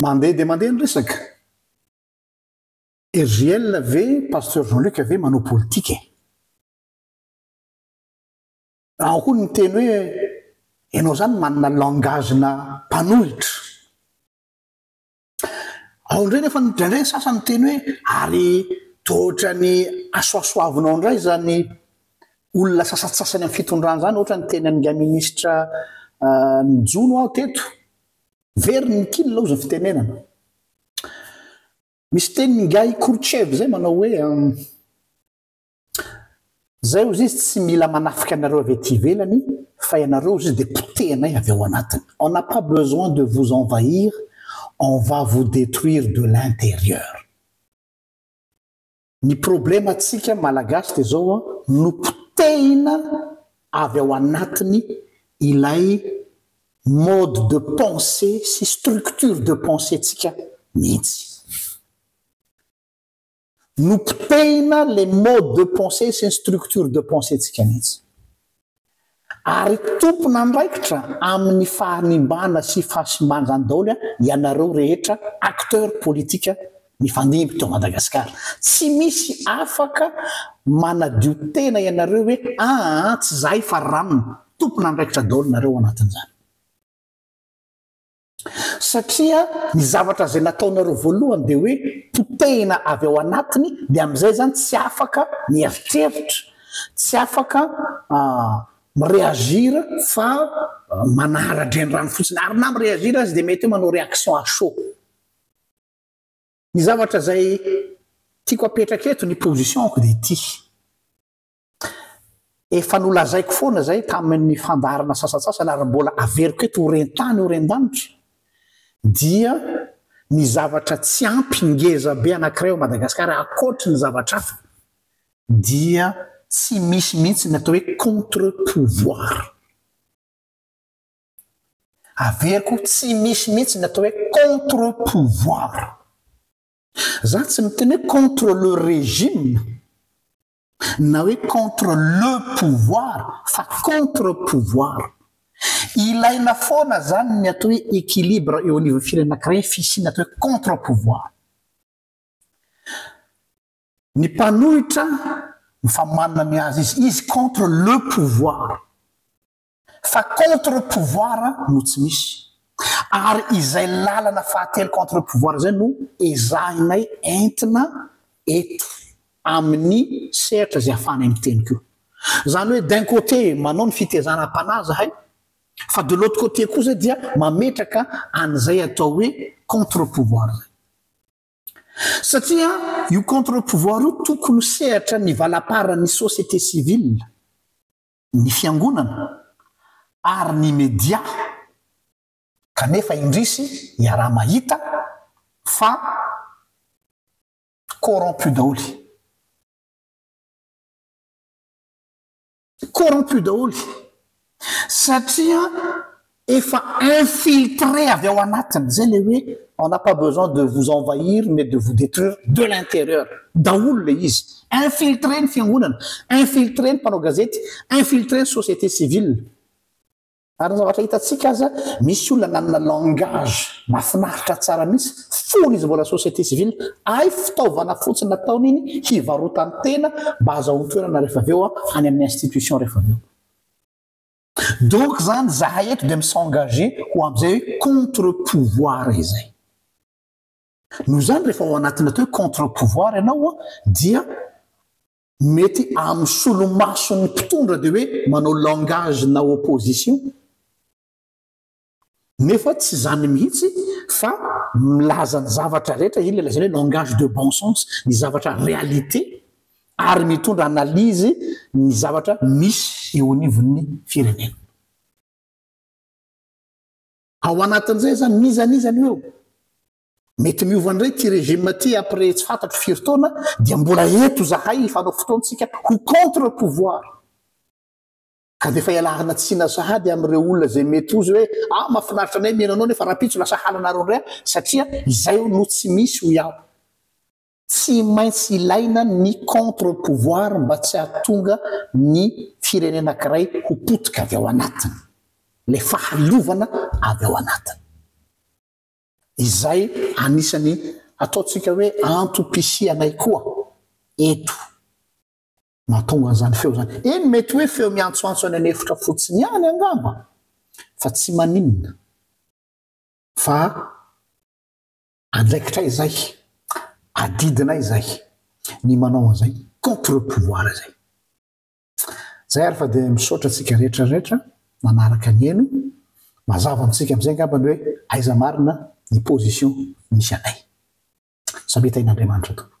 Mandeha dia mandeha ny resaka. RJL ve Pasteur Jean Luc ve manao politika e? Ao koa ny miteny hoe ianao izany manana langage-na mpanohitra. Ao indray nefa indraindray ny sasany miteny hoe ary toa ohatran'ny asoasoavinao indray izany olona sasantsasany amin'ny fitondrana izany, ohatra ny teny an'ingahy minisitra ah, ny jono aho teto. Very ny kil ao izao fitenenana. Misy teny ingahy Khrouchtchev izay manao hoe Zay hozy izy tsy mila manafika anareo avy aty ivelany fa ianareo hozy izy dia potehinay avy ao anatiny. On n'a pas besoin de vous envahir, on va vous detruire de l'intérieur. Ny problème antsika malagasy dia zao an, nopotehina avy ao anatiny ilay mode de pensée sy structure de pensée tsika mihitsy. Nopotehina le mode de pensée sy ny structure de pensée tsika mihitsy. ary tompon'andraikitra amin'ny fahanimbana sy fahasimban'izany daholo ianareo rehetra acteurs politiques mifandimby teo Madagasikara. Tsy misy afaka manadio tena ianareo hoe aa tsy zahay fa ram. Tompon'andraikitra daholo nareo anatin'izany. Satria ny zavatra izay nataonareo voalohany dia hoe potehina avy ao anatiny dia amin'izay izany tsy afaka mieritreritra, tsy afaka mi-reagir fa manara-drenirano fotsiny. Ary na mi-reagir aza dia mety hoe manao réaction à chaud. Ny zavatra izay tiako apetraka eto, ny position-ko dia ity. Efa nolazaiko foana izay tamin'ny fandaharana sasantsasany ary mbola averiko eto ho ren-tany ho ren-danitra dia ny zavatra tsy ampy ngeza be anankiray ao Madagasikara ankoatry ny zavatra hafa dia tsy misy mihitsy ny atao hoe contre pouvoir. Averiko tsy misy mihitsy ny atao hoe contre pouvoir. Za tsy miteny hoe contre le régime na hoe contre le pouvoir fa contre pouvoir. Ilaina foana zany ny atao hoe equilibre eo anivon'ny firenena anankiray fisiana atao hoe contre pouvoir. Ny mpanohitra mifamanina ny azy izy, izy contre le pouvoir. Fa contre pouvoir no tsy misy. Ary izay lalana fahatelo contre pouvoir izay no ezahinay entina eto amin'ny sehatra izay ahafahanay miteny koa. Izany hoe d'un côté manao ny fitezanam-panahy izahay fa de l'autre côté kosa dia mametraka an'izay atao hoe contre pouvoir izay. Satria io contre pouvoir io tokony ho sehatra ny valamparan'ny société civile. ny fiangonana ary ny media kanefa indrisy iaraha mahita fa corrompu daholo. Corrompu daholo satria Efa infiltré avy ao anatiny, zay le hoe on n'a pas besoin de vous envahir mais de vous detruire de l'intérieur daholo le izy. Infiltré ny fiangonana, infiltré ny mpanao gazety, infiltré ny société civile. Ary ny zavatra hitantsika aza, misy olona nanana langage mafinaritra tsara mihitsy, fony izy mbola société civile, ay fitaovana fotsiny nataony iny hivarotany tena mba azahoany toerana rehefa avy eo any amin'ny institution rehefa avy eo. Donc zany zahay eto dia mi s'engager ho amin'izay hoe contre pouvoir izay. Noho izany rehefa ao anatina atao hoe contre pouvoir ianao an dia mety amin'ny solomason'ny mpitondra dia hoe manao langage na opposition. Nefa tsy izany mihitsy fa milaza ny zavatra rehetra, iny ilazana hoe langage de bon sens, ny zavatra réalité ary mitondra analyse ny zavatra misy eo anivon'ny firenena. Ao anatin'izay izany n'iza n'iza no eo. Mety miova indray ity régime ity après tsy fantatro firy taona dia mbola eto izahay hifanao fotoantsika ho contre pouvoir. Ka dia efa ialàrina tsina sahady amin'ireo olona izay mety ho hoe, ah mahafinaritra anay mihaino anao nefa rahampitso lasa halanareo indray aho satria izay no tsy misy hoy aho. Tsy maintsy ilaina ny contre pouvoir mba tsy hahatonga ny firenena ankiray ho potika avy ao anatiny. Ilay fahaleovana avy ao anatiny. Izay anisan'ny ataontsika hoe antom-pisianay koa eto. Mahatonga an'izany feo izany. Eny, mety hoe feo miantsoantso any an'efitra fotsiny ihany angamba, fa tsy maninona, fa andraikitray izay, adidinay izay, ny manao an'izay contre-pouvoir izay. Izay ary fa dia misaotra antsika rehetra rehetra nanaraka ny heno. Mazava amintsika amin'izay angamba ny hoe aiza marina ny position misy anay. Samia tahin'Andriamanitra tompoko.